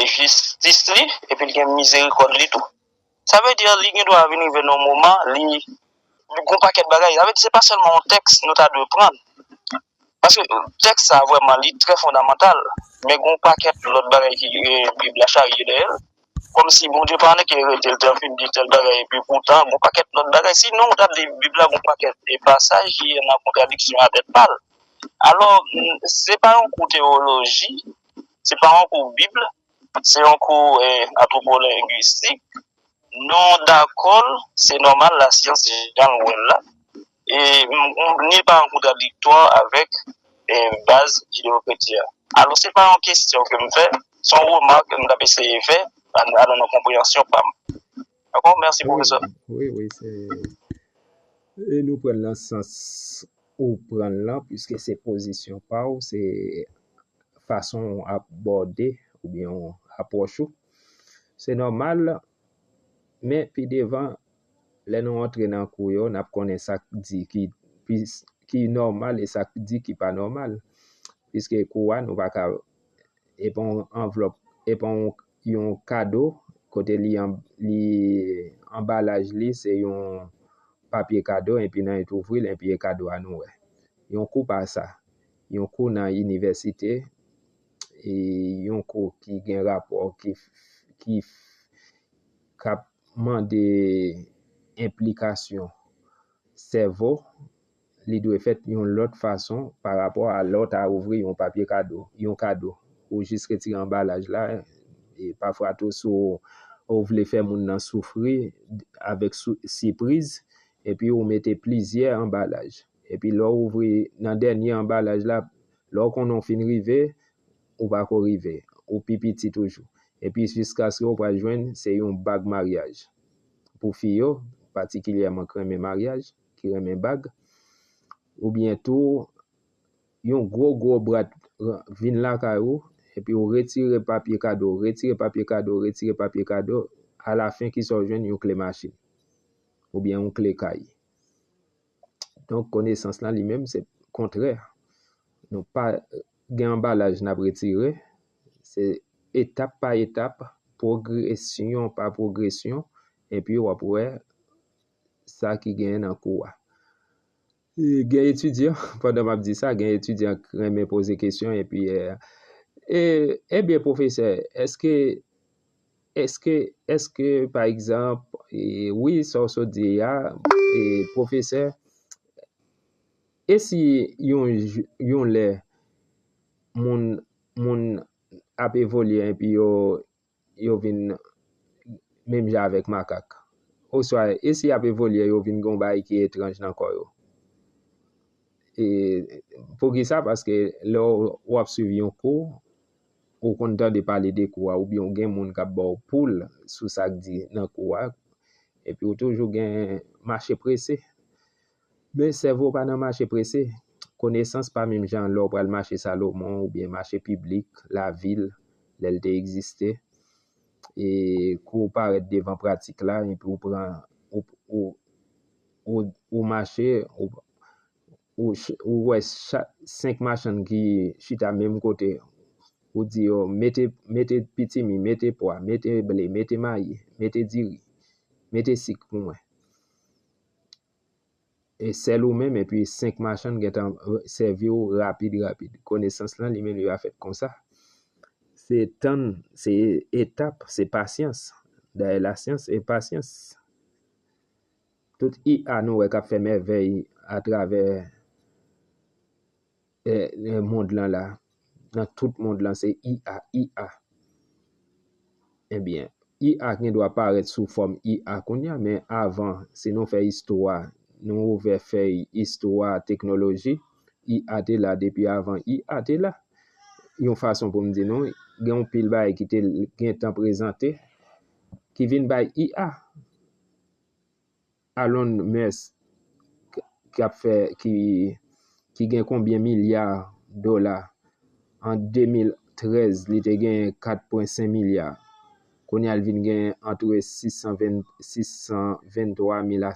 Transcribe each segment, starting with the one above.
jistis li epi l gen mizerikòd li tou. Sa vle di li gen dwa vin rive nan yon moman li gen yon pakèt bagay, sa vle di se pa sèlman yon tèks nou ta dwe pran, paske tèks sa a vrèman li trè fondamantal men gen yon pakèt lòt bagay ki bib la charye dèyè l, kòmsi Bondye pa annik li rete l te fin di tèl bagay epi poutan gen yon pakèt lòt bagay sinon w ta ap li bib la gen yon pakèt pasaj ki nan kontradiksyon a tèt pa l alò se pa yon kou tewoloji. Se pa yon kou bib, se yon kou antwopolengwistik, nou dakò l, se nòmal lasyans jan l wè l la, e ni l pa an kontradiktwa avèk baz jideyokretyen an. Alò se pa yon kesyon ke m fè, se yon remak ke m t ap eseye fè nan konpreyansyon pa m. Yo bon, mèsi Wi, pwofesè. wi, wi, se e nou pran nan sans ou pran lan, puiske se pozisyon pa ou, se fason ou abòde oubyen ou apwòch ou. Se nòmal, men pi devan, lè nou antre nan kou yo, n ap konnen sa k di ki plis ki nòmal e sa k di ki pa nòmal. Piske kou a nou pa ka e pa yon anvlòp, e pa yon kado kote li anbalaj li se yon papye kado epi nan et ouvri l epi e kado a nou wè. Yon kou pa sa, yon kou nan inivèsite, e yon kou ki gen rapò ki kap mande enplikasyon sèvo Li dwe fèt yon lòt fason pa rapò a lè w ta ouvri yon papye kado, yon kado. Ou jis retire anbalaj la, e pafwa tou si w vle fè moun nan soufri avèk sipriz, epi ou mete plizyè anbalaj. Epi lè w ouvri nan dènye anbalaj la, lè w konnen w fin rive, ou pa ko rive. Ou pi piti toujou. Epi jiskaske ou pral jwenn se yon bag maryaj. Pou fi yo, patikilyèman k renmen maryaj. ki renmen bag, oubyen tou yon gwo gwo brat vin lakay ou, epi ou retire papye kado, retire papye kado, retire papye kado, alafen ki sa ou jwenn yon kle machin, oubyen yon kle kay. Donk konesans lan li menm se kontrè, nou pa gen anbalaj n ap retire, se etap pa etap, pwogresyon pa pwogresyon, epi w ap wè. sa ki genyen nan kou a. Gen etidyan, pandan m ap di sa, gen etidyan ki renmen poze kesyon epi, ebyen pwofesè, eske, eske, eske pa egzanp, wi sa w sot di a, pwofesè, e si yon, yon lè moun, moun ap evolye epi yo yo vin menm jan avèk makak? Oswa, e si y ap evolye yo vin gen yon bagay ki etranj nan kò yo? E poukisa? Paske lè w ap suiv yon kou, ou konn tande pale de kou a oubyen ou gen moun k ap ba w poul sou sa k di nan kou a, epi ou toujou gen mache prese. Men sèvo pa nan mache prese. Konesans pa menm jan lè w pral mache Salomon oubyen mache piblik lavil lè l te egziste. E kou w parèt devan pratik la epi w pran ou mache ou wè 5 machann ki chita menm kote ou di yo mete pitimi, mete pwa, mete ble, mete mayi, mete diri, mete sik pou mwen. E sèl ou menm epi 5 machann gentan sèvi w rapid rapid. Konesans lan li menm li pa fèt konsa. Se tann, se etap, se pasyans. Dayè lasyans e pasyans. Tout IA nou wè k ap fè mèvèy atravè. Nan mond lan la, nan tout mond lan se IA, IA. Ebyen, IA gen dwa parèt sou fòm IA kounye a, men avan, si nou fè istwa, nou ouvè fèy istwa teknoloji, IA te la depi avan IA te la. Yon fason pou m di nou, gen yon pil bagay ki te gentan prezante, ki vin bay IA. Alon Musk ki gen konbyen milya dola an 2013 li te gen 4.5 milya kounye a li vin gen antre 623 mil a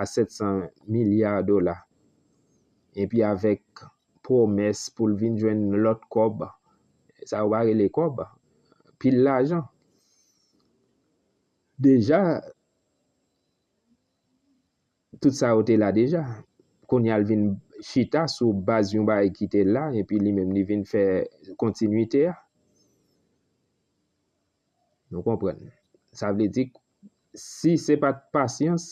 700 milya dola epi avèk pwomès pou l vin jwenn lòt kòb sa yo pa rele kòb pil lajan. Deja tout sa yo te la deja. Kounye a l vin chita sou baz yon bagay ki te la epi li menm li vin fè kontinwite a. Nou konprann. Sa vle di si se pa t pasyans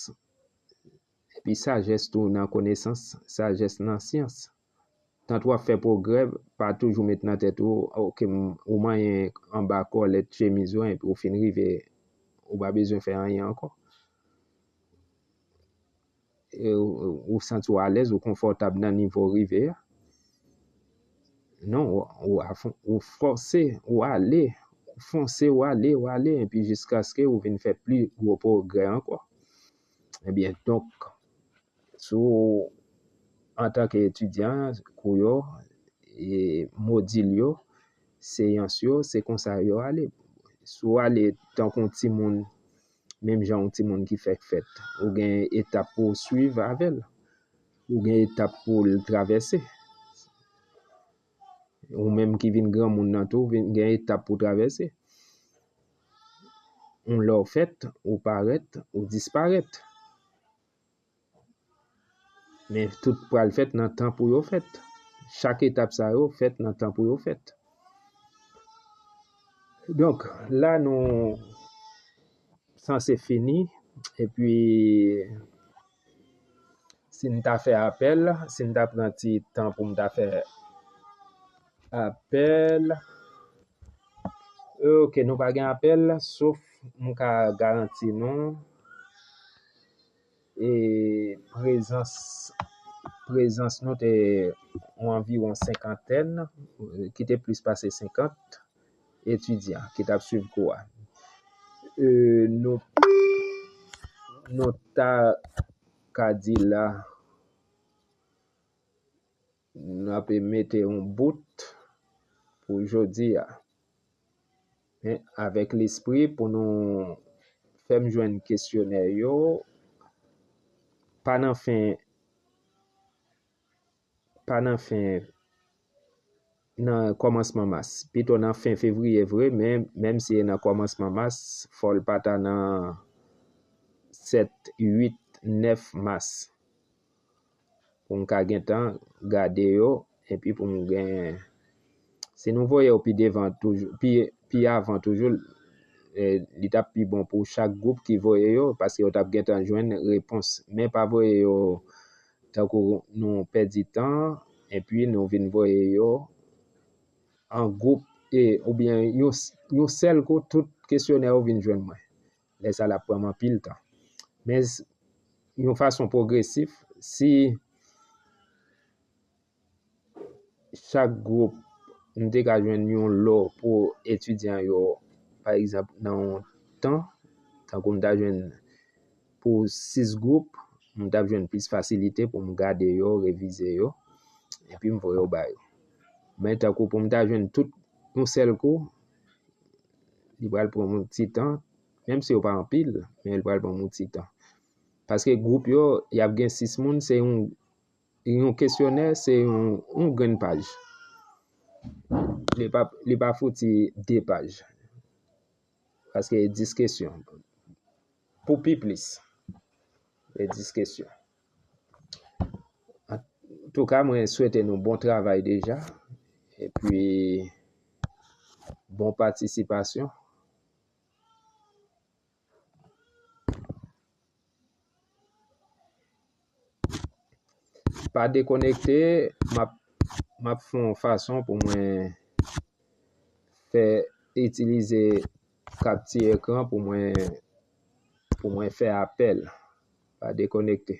epi sajès tou nan konesans, sajès nan syans. Tant wap fè pwogrè pa toujou met nan tèt ou ok ou manyen anba kòlèt chemiz ou epi ou fin rive ou pa bezwen fè anyen ankò. Ou santi ou alèz ou konfòtab nan nivo ou rive a. Non ou fòse ou ale ou fonse ou ale ou ale epi jiskaske ou vin fè pli gwo pwogrè ankò. Ebyen donk Si w antanke etidyan, kou yo, modil yo, seyans yo, se konsa yo ale. Si w ale tankou yon timoun, menm jan yon timoun ki fèk fèt, ou gen etap pou w suiv avè l. Ou gen etap pou l travèse. Ou menm ki vin granmoun nan tou, vin gen etap pou w travèse. Yon lè w fèt, ou parèt, ou disparèt. Men tout pral fèt nan tan pou yo fèt. Chak etap sa yo fèt nan tan pou yo fèt. Donk, la nou sanse fini, epi si m ta fè apèl, si m ta pran ti tan pou m ta fè. Apèl Ok nou pa gen apèl sof m ka garanti nou e prezans prezans nou te yon anviwon senkantèn ki te plis pase senkant etidyan ki t ap swiv kou a e nou nou ta ka di la. N ape mete yon bout pou jodi a. Men avèk lespri pou nou fè m jwenn kesyonè yo pa nan fen pa nan fen nan kòmansman mas. Pito nan fen fevriye vre men menm si e nan kòmansman mas fò l pa ta nan 7, 8, 9 mas. pou m ka gentan gade yo epi pou m gen si nou voye yo pi devan toujou pi avan toujou li tap pi bon pou chak gwoup ki voye yo paske yo tap gentan jwenn repons men pa voye yo tankou nou pèdi tan epi nou vin voye yo an gwoup oubyen yon sèl kou tout kesyonè yo vin jwenn mwen. lè sa l ap pran m anpil tan. Men yon fason pwogresif, si chak gwoup m te ka jwenn yon lò pou etidyan yo, pa egzanp nan yon tan, tankou m ta jwenn pou 6 gwoup, m t ap jwenn plis fasilite pou m gade yo, revize yo, epi m voye yo ba yo. Men tankou pou m ta jwenn tout yon sèl kou. Li pral pran moun ti tan, menm si yo pa anpil, men li pral pran moun ti tan. Paske gwoup yo, y ap gen 6 moun, se yon kesyonè, se yon grenn paj. Li pa fouti 2 paj. Paske 10 kesyon. Pou pi plis, 10 kesyon. Antouka mwen swete nou bon travay deja. E pi bon patisipasyon. Pa dekonekte, m ap fon fason pou mwen fè itilize kapti ekran pou mwen fè apèl. Pa dekonekte.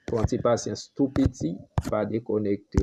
Pran ti pasyans tou piti, pa dekonekte.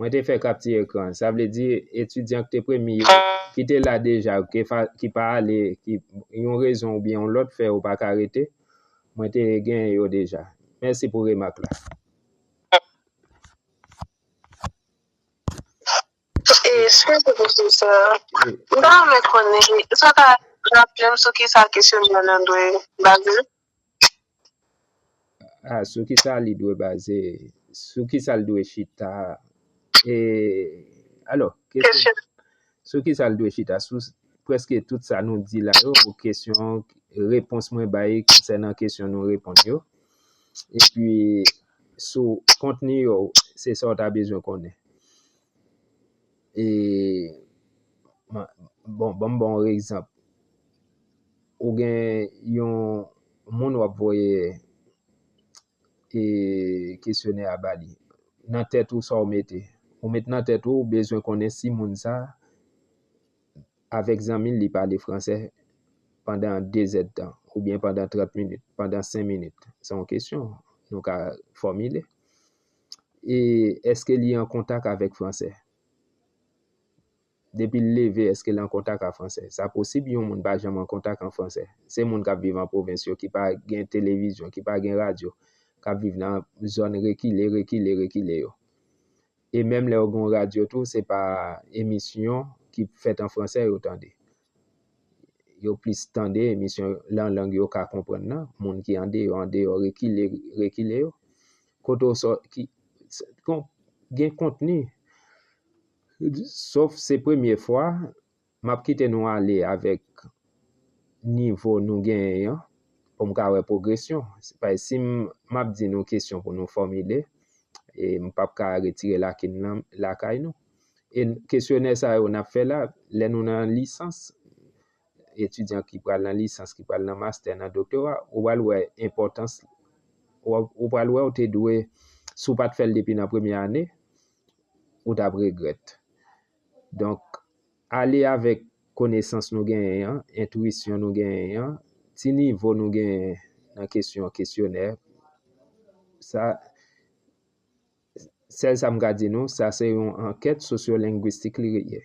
Mwen te fè kapti ekran. Sa vle di etidyan ki te premye yo, ki te la deja, ki pa ale, ki yon rezon oubyen yon lòt fè yo pa ka rete, mwen te genyen yo deja. Mèsi pou remak la. Eskizem pwofesè, m ta renmen konnen, èske w ka raple m sou kisa kesyonè an dwe baze l? A, sou ki sa li dwe baze, sou ki sa l dwe chita, e, alò, kesyon, sou ki sa l dwe chita, sou preske tout sa nou di la yo, ou kesyon, repons mwen bay, se nan kesyon nou reponn yo, e pi, sou kontni yo, se sa w ta bezwen konnen. E, bon, banm bon ekzanp. Ou gen yon moun wap voye e kesyonè a bali. Nan tèt ou sa ou mete. Ou met nan tèt ou bezwen konnen si moun sa avèk zanmi li pale fransè pandan 2 zèd tan oubyen pandan 30 minit, pandan 5 minit. Se yon kesyon nou ka fòmile. E eske li an kontak avèk fransè? Depi l leve, èske l an kontak a franse? Sa posib yon moun pa janm an kontak an franse. Se moun k ap viv an pwovens yo ki pa gen televizyon, ki pa gen radyo, k ap viv nan zòn rekile, rekile, rekile yo. E menm lè yo gen yon radyo tou, se pa emisyon ki fèt an franse yo tande. Yo plis tande emisyon lan lang yo ka konprann nan, moun ki andeyò, andeyò, rekile, rekile yo. Kote w sò, ki, gen kontni. Sof se premye fwa, m ap kite nou ale avèk nivo nou genyen an pou m ka wè pwogresyon. Paske si m ap di nou kesyon pou nou fòmile, m p ap ka retire lakin lan lakay nou. E kesyonè sa yo n ap fè la, lè nou nan lisans, etidyan ki pral nan lisans, ki pral nan mastè, nan doktora, ou pral wè enpòtans, ou pral wè ou te dwe, si w pa t fè l depi nan premye ane, ou t ap regrèt. Donk, ale avèk konesans nou genyen an, entwisyon nou genyen an, ti nivo nou genyen nan kesyon kesyonè, sa, sèl sa m ka di nou, sa se yon ankèt sosyolengwistik li ye.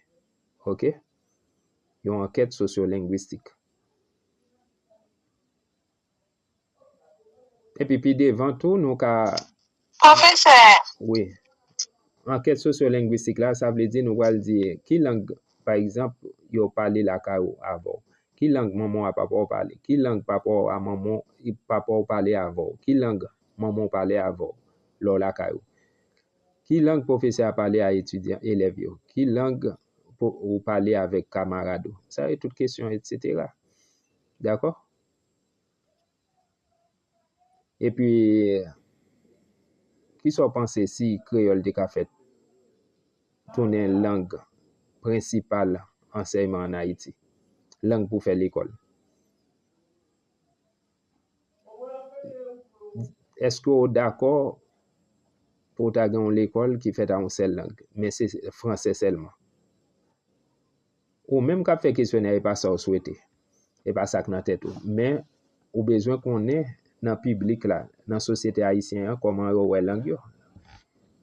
Ok? Yon ankèt sosyolengwistik. Epi pi devan tou nou ka Pwofesè! Wi. Ankèt sosyolengwistik la, sa vle di nou pral di ki lang, pa egzanp, yo pale lakay ou, avè w. Ki lang manman w a papa w pale? Ki lang papa w a manman w, papa w pale avè w? Ki lang manman w pale avè w lè w lakay ou? Ki lang pwofesè a pale a etidyan, elèv yo? Ki lang ou pale avèk kamarad ou? Sa yo tout kesyon, etsetera. Dakò? Epi, ki sa w panse si kreyòl te ka fèt tounen lang prensipal ansèyman ann Ayiti, lang pou fè lekòl? Èske w dakò pou ta gen yon lekòl ki fèt a yon sèl lang, men se franse sèlman? Ou menm kap fè kesyonè epa sa ou swete, epa sak nan tèt ou, men ou bezwen konnen nan piblik la, nan sosyete ayisyen an kòman yo wè lang yo.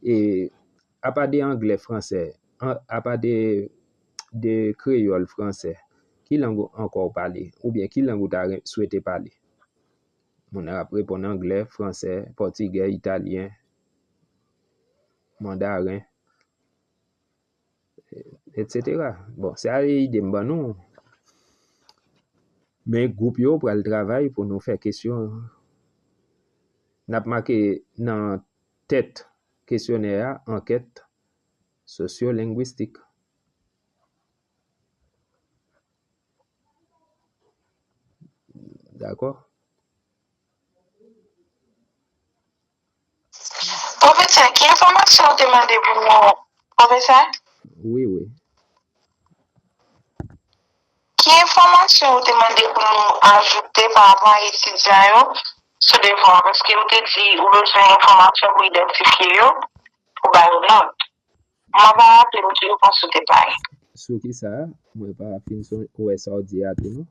E apa de anglè, fransè, apa de kreyòl, fransè, ki lang ankò ou pale? Ou byen ki lang ou ta swete pale? Moun nan ap reponn anglè, fransè, pòtigè, italyen, mandaren. Etc. Bon, se a e ide m ban nou. Men gwoup yo pral travay pou nou fè kesyon. N ap make nan tèt kesyonè a ankèt sosyolengwistik. Dakò? Profesè ki enfòmasyon ou te mande pou mwen profesè? Wi wi. Ki enfòmasyon ou te mande pou nou ajoute pa rapò a etidyan yo sou devwa paske ou te di ou bezwen enfòmasyon pou idantifye yo pou ba yo nòt. Mwen pa raple m ki repons ou te bay. Sou kisa? Mwen pa fin wè sa ou di a tou non.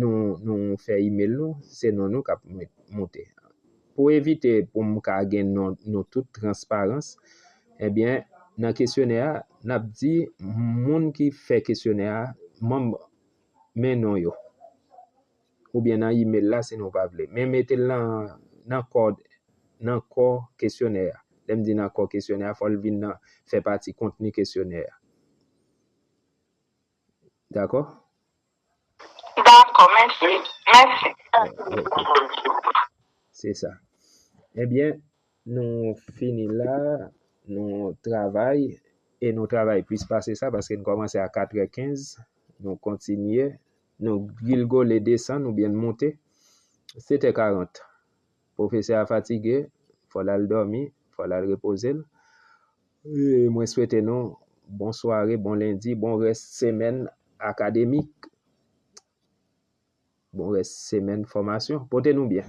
Nou nou fè email nou se non nou kap moute pou evite pou m ka gen non nou tout transparans ebyen nan kesyonè a nap di moun ki fè kesyonè a manm men non yo oubyen nan email la si nou pa vle men mete l nan nan kò nan kò kesyonè a lè m di nan kò kesyonè a fò l vin nan fè pati kontni kesyonè a. Dakò? Dakò, mèsi. Mèsi. Se sa. Ebyen, nou fini la. Nou travay e nou travay plis pase sa paske nou kòmanse a katrè kenz. Nou kontinye. Nou gilgole desann oubyen n moute. Setè karant. Pwofesè a fatige, fò l al dòmi, fò l al repoze l. Mwen swete nou bon sware, bon lendi, bon rès semèn akademik, bon rès semèn fòmasyon. Pote nou byen.